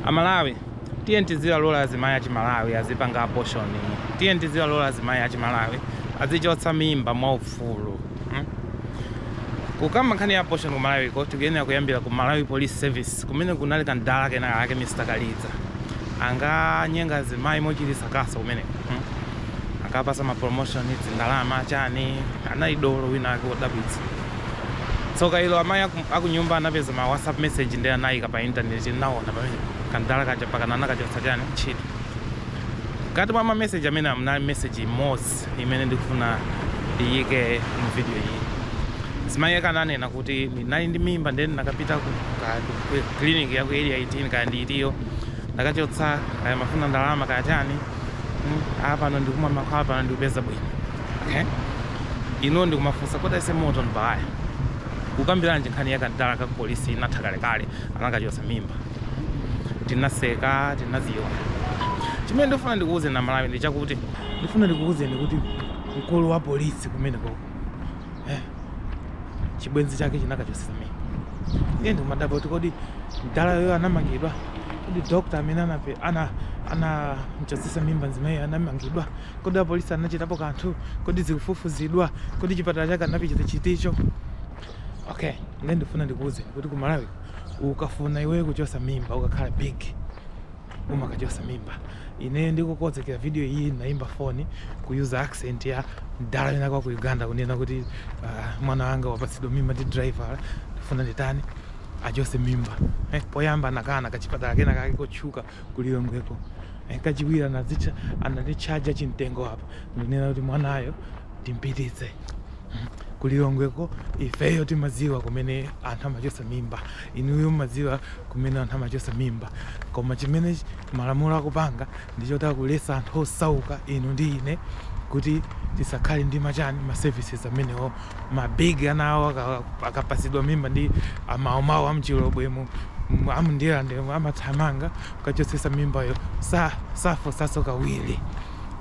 amalawi tiyeni tizilalola azimayi achimalawi azipanga abortion tiyeni tizilalola azimayi achimalawi azichotsa mimba mwa ufulu hmm? kukamba nkhani ya abortion kumalawiko tikuyenera kuyambira ku malawi police service kumene kunali kamdala kenaka ake mr kaliza anganyenga azimayi mochititsa kaso kumene hmm? akapasa mapromotion zindalama chani anali dolo wina ake wodabwitsa tsoka ilo amayi aku, akunyumba anapeza ma whatsapp message ndi anayika pa internet ndinaona pamene kamdala kaja pakana anakachotsa chani ntchito mkati mwa ma message amene aja message imodzi imene ndikufuna iyike mu video iyi mzimayi wake ananena kuti ndinali ndi mimba ndeni nakapita ku ka- ku clinic ya ku area 18 kaya ndi itiyo ndakachotsa kaya amafuna ndalama kaya chani mm, apano ndikumwa mankhwala pano ndikupeza bwino okay ndiye ndikumafunsa kodi aise Moto Mbaya kukambiranji nkhani ya kamdala ka upolisi inatha kalekale anakachotsa tinaseka tinaziona chimene ndifuna ndikuwuzeni amalawi ndi chakuti ndifuna ndikuwuzeni kuti mkulu wa polisi kumene koko eh, chibwenzi chake chinakachosesa mimba ndiye ndimadabwa kuti kodi mdalayo anamangidwa kodi dokta amene anape- ana anamchosesa mimba mzimayiyo anamangidwa kodi apolisi anachitapo kanthu kodi zikufufuzidwa kodi chipatala chake anapita ndi chiticho okay nde ndifuna ndikuuze kuti ku malawi ukafuna iweyo kuchosa mimba ukakhala big umakachosa mimba ine ndikukozekera video iyi ndinaimba foni kuyuza accent ya mdala wina wake wa ku uganda kunena kuti uh, mwana wanga wapatsidwa mimba ndi driver ndifuna nditani achose mimba eh, poyamba anakana kachipatala kena kake chotchuka kulilongweko eh, kachiwiri anazitcha ananditchaja chimtengo apa ndi kunena kuti mwanayo timpititse hmm. kulilongweko ifeyo timadziwa kumene anthu amachosa mimba Inuyo mumadziwa kumene anthu amachotsa mimba koma chimene malamulo akupanga ndi choti akuletsa anthu osauka inu ndi ine kuti tisakhale ndi ma chani, ma services amenewo. Ma big ana awo akapatsidwa mimba ndi a Mau Mau a mchilobwemu, a mu Ndirandemu amathamanga kukachotsetsa mimbayo safunsanso kawiri.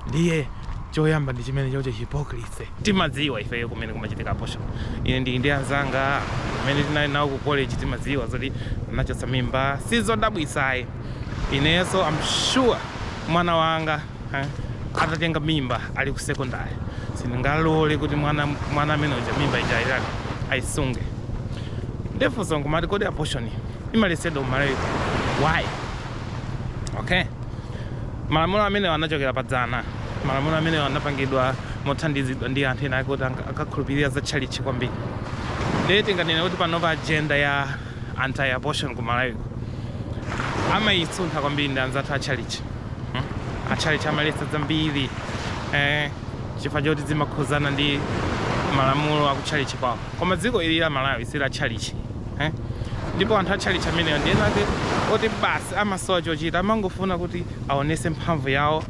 Ndiye choyamba ndi chimenechocho hypocrisy. Timadziwa ifeyo kumene kumachitika abortion. Ine ndili ndi anzanga amene tinali nawo ku college timadziwa zoti anachotsa mimba sizodabwitsa ayi. Ineso am sure mwana wanga atatenga mimba ali ku secondary sindingalore kuti mwana amene uja mimba ija ayitani ayisunge. Nde funso nkumati kodi abortion imaletsedwa ku Malawi kuno why? Okay. Malamulo amenewa anachokera pa dzana. Malamulo amenewa anapangidwa mothandizidwa ndi anthu ena ake oti anka- ankakhulupirira za tchalitchi kwambiri. Ndiye tinganene kuti panopa ajenda ya anti abortion ku Malawi amaisuntha kwambiri ndi anzathu a tchalitchi. Mm. A tchalitchi amaletsa zambiri eh, chifukwa choti zimakhuzana ndi malamulo a ku tchalitchi kwawo. Koma dziko ili la Malawi si la tchalitchi. eh? ndipo anthu atchalitchi amenewo ndi ena ake oti basi amasowa chochita amangofuna kuti aonese mphamvu yawo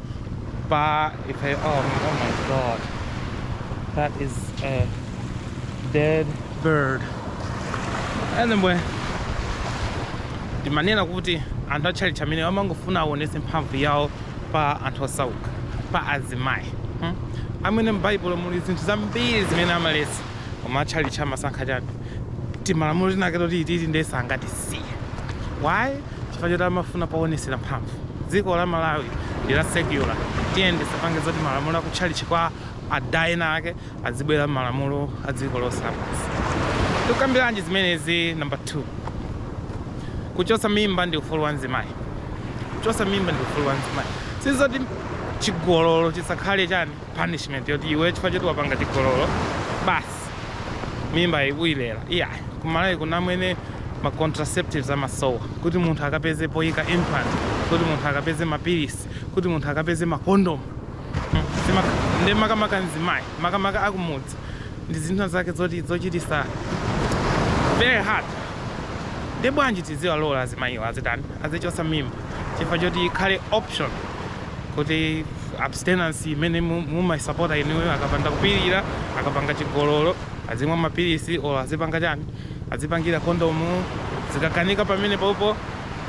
pa ife oh, oh my god that is a dead bird anyway ndimanena kuti anthu atchalitchi amenewo amangofuna aonese mphamvu yawo pa anthu osauka pa azimayi hmm? pomwe m'baibulo muli zinthu zambiri zimene amaletsa koma atchalitchi amasankha chabe timalamulo tinake toti ititi ndiye sangatisiye why chifukwa choti amafuna powonesera mphamvu dziko la malawi ndi la secular tiyeni tisapange zoti malamulo akutchalitchi kwa ada ena ake azibwera malamulo a dziko lonse lapansi tukambiranji zimenezi number 2 kuchotsa mimba ndi ufulu wa mzimayi kuchotsa mimba ndi ufulu wa mzimayi sizoti chigololo chisakhale chani punishment yoti iwe chifukwa choti wapanga chigololo basi mimba uyilera iyayi kumalawi kuno komwe ma contraceptives amasowa kuti munthu akapeze poyika implant kuti munthu akapeze mapilisi kuti munthu akapeze makondomu hmm, ndi makamaka mzimayi makamaka akumudzi ndi zinthu zake zoti zochitisa very hard ndi bwanji tiziwalola azimayiwa azitani azichosa mimba chifukwa choti ikhale option kuti abstinence imene mumaisapota inuyo akapanda kupirira akapanga chigololo azimwa mapilisi or azipanga chani azipangira kondomu zikakanika pamenepopo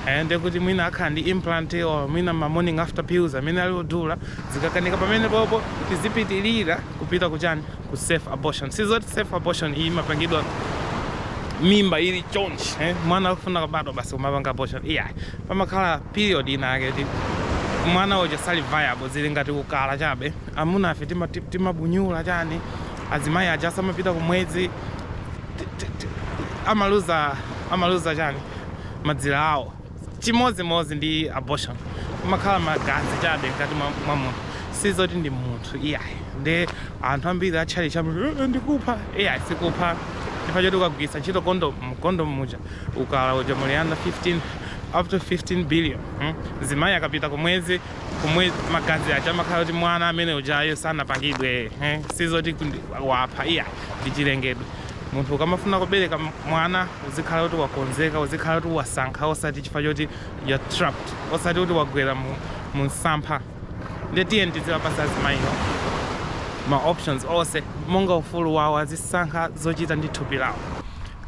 eh, ndiye kuti mwina akhala ndi implant or mwina ma morning after pills amene ali odula zikakanika pamenepopo tizipitirira kupita kuchani ku safe abortion sizoti safe abortion iyi imapangidwa mimba ili chonchi eh? mwana akufuna kubadwa basi kumapanga abortion iyayi pamakhala period ina yake yoti mwana uja sali viable zili ngati ukala chabe amuna ife tima- ti- timabunyula chani azimayi aja akamapita kumwezi ti- ti- ti- amaluza amaluza chani madzira awo chimodzimodzi ndi abortion kumakhala magazi chabe mkati mwa mwa munthu sizoti ndi munthu iyayi ndi anthu ambiri atchalitchi ambiri "Eh, eh, ndikupha iyayi sikupha chifukwa choti ukagwiritsa ntchito kondomu kondomu muja umuna uja muli ana 15 up to 15 billion hmm? zimayi akapita kumwezi kumwezi magazi aja amakhala kuti mwana amene ujayo sanapangidwe eh? sizoti wapha ayi ndi chilengedwe munthu ukamafuna kubereka mwana uzikhala kuti wakonzeka uzikhala kuti wasankha osati chifukwa choti uli trapped osati kuti wagwera mu, mu msampha nde tiyeni tiziwapasa azimayiwo ma options onse monga ufulu wawo azisankha zochita ndi thupi lawo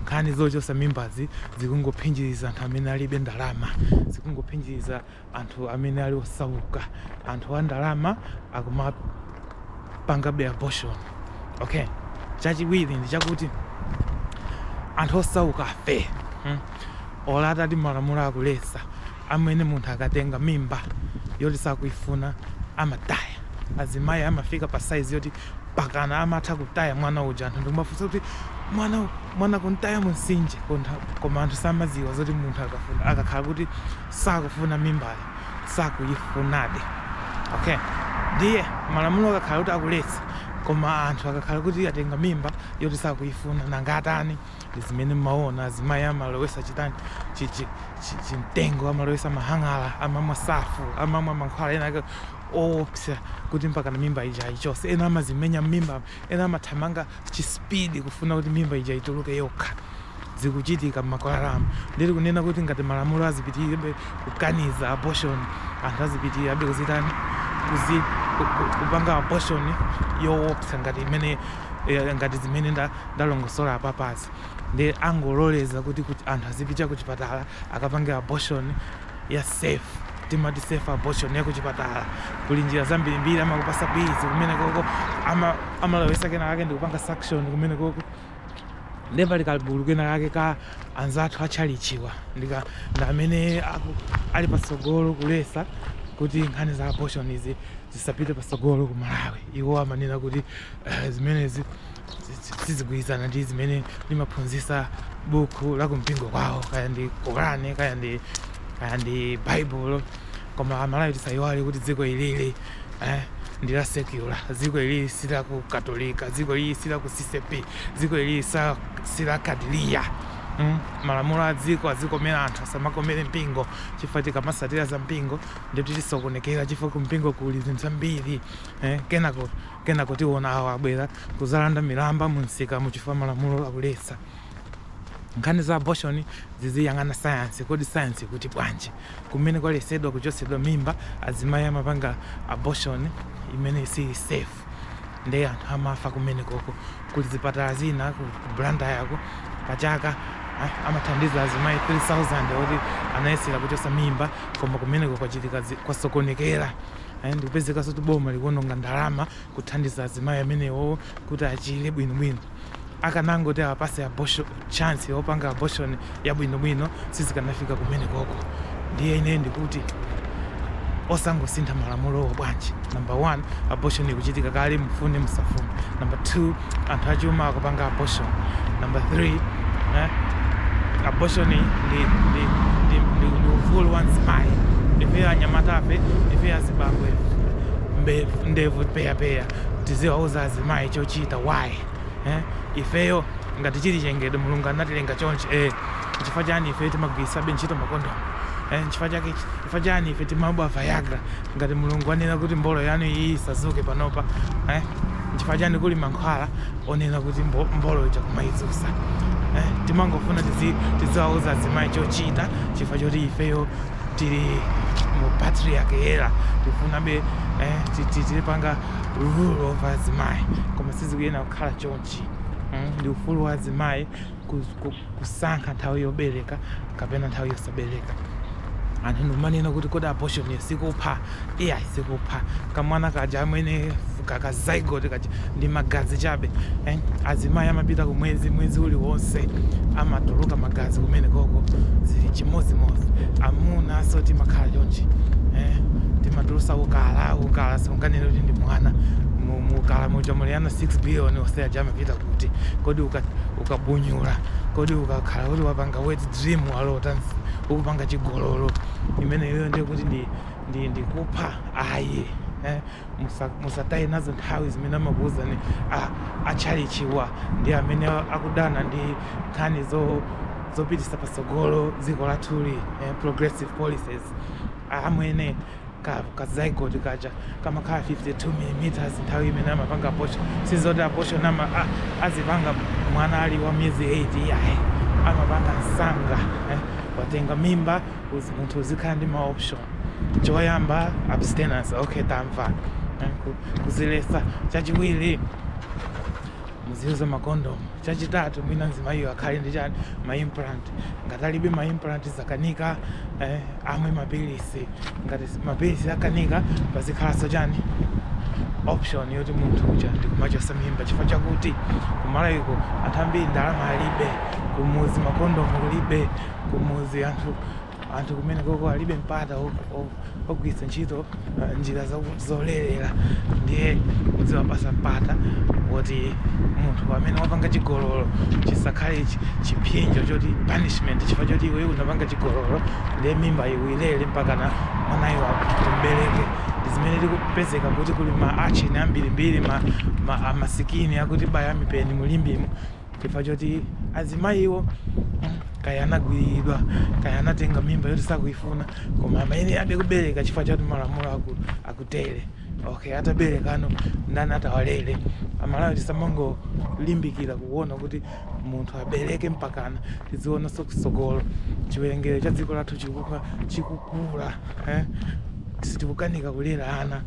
Nkhani zochosa mimbazi zikungophinjiriza anthu amene alibe ndalama, zikungophinjiriza anthu amene ali osauka, anthu a ndalama akumapangabe abortion. Okay, chachiwiri ndi chakuti anthu osaukafe hmm, olo atati malamulo akuletsa amwene, munthu akatenga mimba yoti sakuifuna amataya. Azimayi amafika pa size yoti pakana amatha kutaya mwana uja anthu ndikumafunsa kuti mwana mwana kumtaya mumtsinje kuntha koma anthu samaziwa zoti munthu akafuna akakhala kuti sakufuna mimbayo sakuyifunadi okay ndiye malamulo akakhala kuti akuletsa koma anthu akakhala kuti atenga mimba yoti sakuifuna nanga atani ndi zimene mmaona azimayi amalowesa chitani chi chi chi chimtengo amalowesa mahang'ala amamwa surf amamwa mankhwala ena ake owopsa kuti mpakana mimba ija ayichose ena amazimenya mmimba ena amathamanga chi speed kufuna kuti mimba ija ituluke yokha zikuchitika mmakwalalamu ndiri kunena kuti ngati malamulo azipitirirabe kukaniza abortion anthu azipitirirabe kuzitani kuzi ku- ku- kupanga abortion yowopsa ngati imene eya ngati zimene nda ndalongosola apapazi nde angololeza kuti kuti anthu azipita ku chipatala akapange abortion ya safe timati safe abortion ya ku chipatala kuli njira zambirimbiri amakupasa pills kumene koko ama amalowesa kena kake ndikupanga suction kumene koko nde pali kagulu kena kake ka anzathu atchalichiwa ndika ndi amene aku- ali patsogolo kulesa kuti nkhani za abortion zi zisapite patsogolo ku malawi iwo amanena kuti Eh, zimenezi sizigwirizana ndi zimene limaphunzitsa buku la kumpingo kwawo kaya ndi korani kaya ndi kaya ndi baibulo koma amalawi tisayiwale kuti dziko ilili eh, ndi la secular dziko ilili si la ku katolika dziko ilili si la ku ccap dziko ilili sa- si la kadiriya Mm, malamulo a dziko azikomera anthu asamakomere mpingo chifukwa tikamasatira za mpingo ndikuti tisokonekera chifukwa kumpingo kuli zinthu zambiri eh, kenako Kenako tiona awo abwera kuzalanda milandu munsikamu chifukwa malamulo akuletsa. Nkhani za abortion ziziyang'ana science, kodi science ikuti bwanji? Kumene kwalesedwa kuchotsedwa mimba azimai amapanga abortion imene siili safe nde anthu amafa kumenekoko. Kuli zipatala zina ku Blantyre ko pachaka amathandiza azimai 3000 oti anayesera kuchotsa mimba koma kumeneko kwachitika kwasokonekera. Ayi ndikupezekaso kuti boma likuononga ndalama kuthandiza azimayi amenewo kuti achile bwino bwino akanangoti awapase abortion chance yopanga abortion yabwino bwino sizikanafika kumenekoko ndiye ine ndikuti osangosintha malamulowo bwanji number 1 abortion ikuchitika kale mufune musafune number 2 anthu achuma akupanga abortion number 3 eh? abortion ndi, ndi, ndi, ndi, ndi ufulu wa mzimayi ife anyamatape ife azibambo ndevu peyapeya tiziwauza azimayi chochita why eh? ifeyo ngati chili chilengedwe mulungu anatilenga chonchi eh, chifukwa chani ife timagwiritsabe ntchito makondomu eh, chifukwa chake chifukwa chani ife timamwa viagra ngati mulungu wanena kuti mbolo yanu iyi isazuke panopa eh? nchifukwa chani kuli mankhwala onena kuti mbo, mbolo ija kumayizusa eh? timangofuna tizi- tiziwauza azimayi chochita chifukwa choti ifeyo tili mu patriarch era tikufunabe eh, ti- ti- tizipanga rule over azimayi koma sizikuyena kukhala chonchi mm? ndi ufulu wa azimayi kusankha nthawi yobereka kapena nthawi yosabereka anthu nkumanena kuti kodi abortion yo sikupha iyayi sikupha kamwana kaja amwene kaka zygote kaja ndi magazi chabe eh? azimayi amapita kumwezi mwezi uliwonse amatuluka magazi kumene koko zili chimodzimodzi amuna so timakhala chonchi eh? timatulusa ukala ukala simunganene kuti ndi mwana mukala muja muli ana 6 billion onse aja kupita kuti, kodi uka ukabunyula, kodi ukakhala kuti wapanga wet dream walota ukupanga chigololo, imeneyo ndiye kuti ndi ndi ndikupha ayi eh, musa- musataye nazo nthawi zimene amakuwuzani a- atchalichiwa ndi amene akudana ndi nkhani zopitisa patsogolo dziko lathu lino eh, progressive policies amwene ka ka zygote kaja kamakhala 52 millimeters nthawi imene amapanga abortion sizoti abortion ama a- azipanga mwana ali wa miyezi 8 iyayi amapanga msanga eh. watenga mimba uzi- munthu uzikhala ndi ma option choyamba abstinence okay tamva eh, ku- kuzilesa chachiwiri muziuza makondomu chachitatu mwina mzimayiyo akhale ndi chani maimplant ngati alibe maimplant akanika eh, amwe mapilisi ngati mapilisi akanika pazikhalanso chani option yoti munthu uja nkumachosa mimba chifukwa chakuti kumalayiko anthu ambiri ndalama alibe kumuzi makondomu kulibe kumuzi anthu anthu kumene koko alibe mpata ogwiritsa ntchito uh, njira zolerera ndiye kudziwapasa mpata woti munthu amene wapanga chigololo chisakhale chiphinjo choti punishment chifukwa choti iwe unapanga chigololo ndiye mimba iwilere mpaka mwanayo umubereke zimene zikupezeka kuti kuli ma urchin ambirimbiri ma, ma amasikini akutibaya mipeni mu Limbemo chifukwa choti azimayiwo kaya anagwiriridwa kaya anatenga mimba yoti sakuifuna koma amayenerabe kubereka chifukwa choti malamulo aku, akutere okay ataberekano ndani atawalere a Malawi tisamangolimbikira kuona kuti munthu abereke mpakana tizionaso kusogolo chiwerengero cha dziko lathu chikuka chikukula eh? tikukanika kulera ana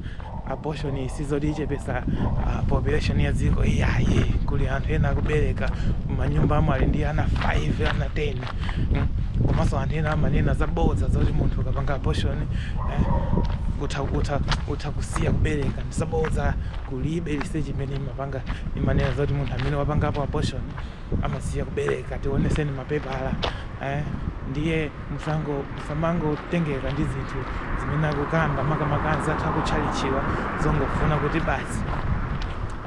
abortion si zoti ichepesa uh, population ya dziko iyayi kuli anthu ena akubereka manyumbamo ali ndi ana 5 ana 10 mm? komanso anthu ena amanena zabodza zoti munthu ukapanga abortion eh? utha, utha, utha kusiya kubereka ndi zabodza kulibe research imene imapanga imanena zoti munthu amene wapangapo abortion amasiya kubereka tioneseni mapepala eh? ndiye musango musamangotengeka ndi zinthu zimene akukamba makamaka anzathu akutchalichiwa zongofuna kuti basi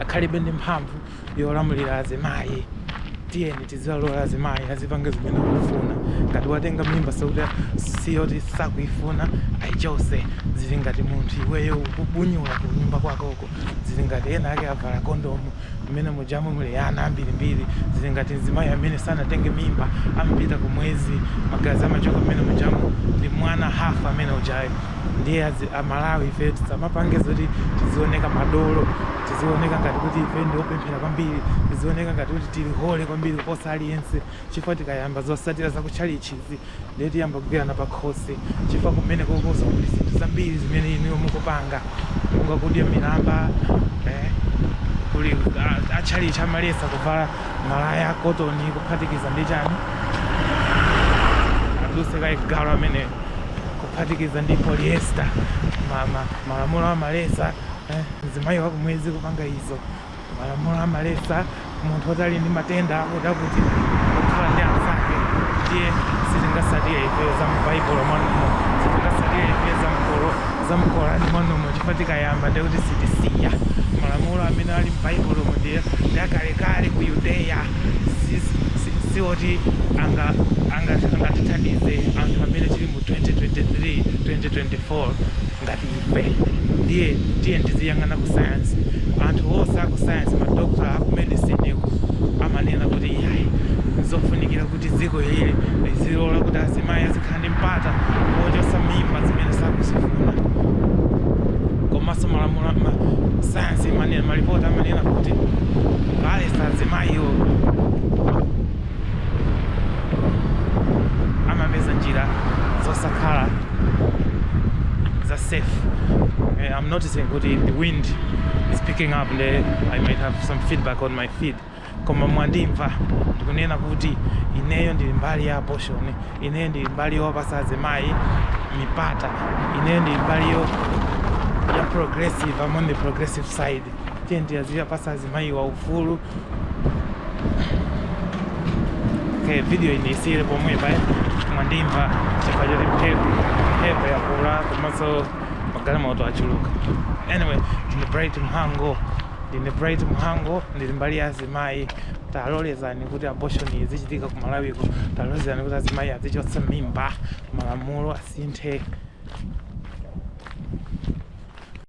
akhalebe ndi mphamvu yolamulira azimayi tiyeni tiziwalola azimayi azipange zimene akufuna ngati watenga mimba zokuti yoti sakuyifuna ayichose zili ngati munthu iweyo ukubunyula ku nyumba kwakoko Mulungu. Zili ngati enaake avala kondomu, mmene mujamo muli ana ambirimbiri. Zili ngati mzimayi amene sanatenge mimba, amapita ku mwezi, magazi amachoka mmene mujamo ndi mwana half amene ujayo. Ndiye adzi, a Malawi ifeyo tisamapanga zoti tizioneka madolo, tizioneka ngati kuti ifeyo ndi opemphera kwambiri, tizioneka ngati kuti tili holy kwambiri kuposa aliyense. Chifukwa tikayamba zosatira za ku tchalitchizi, ndiye tiyamba kugwirana pakhosi chifukwa kumene kokoso kuli zinthu zambiri zimene inuyo mukupanga monga kudya milamba eh, kuli a- atchalitchi amaletsa kuvala malaya akotoni kuphatikiza ndi chani aduse kaye galu amene kuphatikiza ndi polyester ma- ma- malamulo amaletsa eh, mzimayi wakumwezi kupanga izo Malamulo amaletsa munthu oti ali ndi matenda akuti akuti kukhala ndi anzake ndiye sitingatsatire ifeyo za m'Baibulo mwanumo, sitingatsatire ifeyo za m'Qur za m'Qur'an mwanumo chifukwa tikayamba ndiye kuti sitisiya. Malamulo amene ali m'Baibulomu ndiye ndi akalekale ku Yudeya si si si oti anga anga angatithandize anthu amene tili mu 2023, 2024 ngati. Eeh ndiye tiyeni tiziyang'ana ku science. Anthu onse aku science, ma doctor aku medicine ku amanena kuti iyayi nzofunikira kuti dziko ili lizilola kuti azimayi azikhala ndi mpata wochotsa mimba zimene sakuzifuna. Komanso malamulo a ma science imanena, ma report amanena kuti kuwalesa azimayiwo. amapeza njira zosakhala za safe eh, I'm noticing kuti the wind is picking up nde I might have some feedback on my feed koma mwandimva ndikunena kuti ineyo ndili mbali ya abortion ineyo ndili mbali yowapasa azimayi mipata ineyo ndili mbali yo ya progressive I'm on the progressive side tiyeni tiziwapasa azimayiwa ufulu Okay, video iyi ndiyisiyire pomwepa koma mwandimva chifukwa choti mphepo mphepo yakula komanso magalimoto achuluka anyway ndine bright mhango ndine bright mhango ndili mbali ya azimayi talolezani kuti abortion izichitika ku malawiko talolezani kuti azimayi azichotsa mimba malamulo asinthe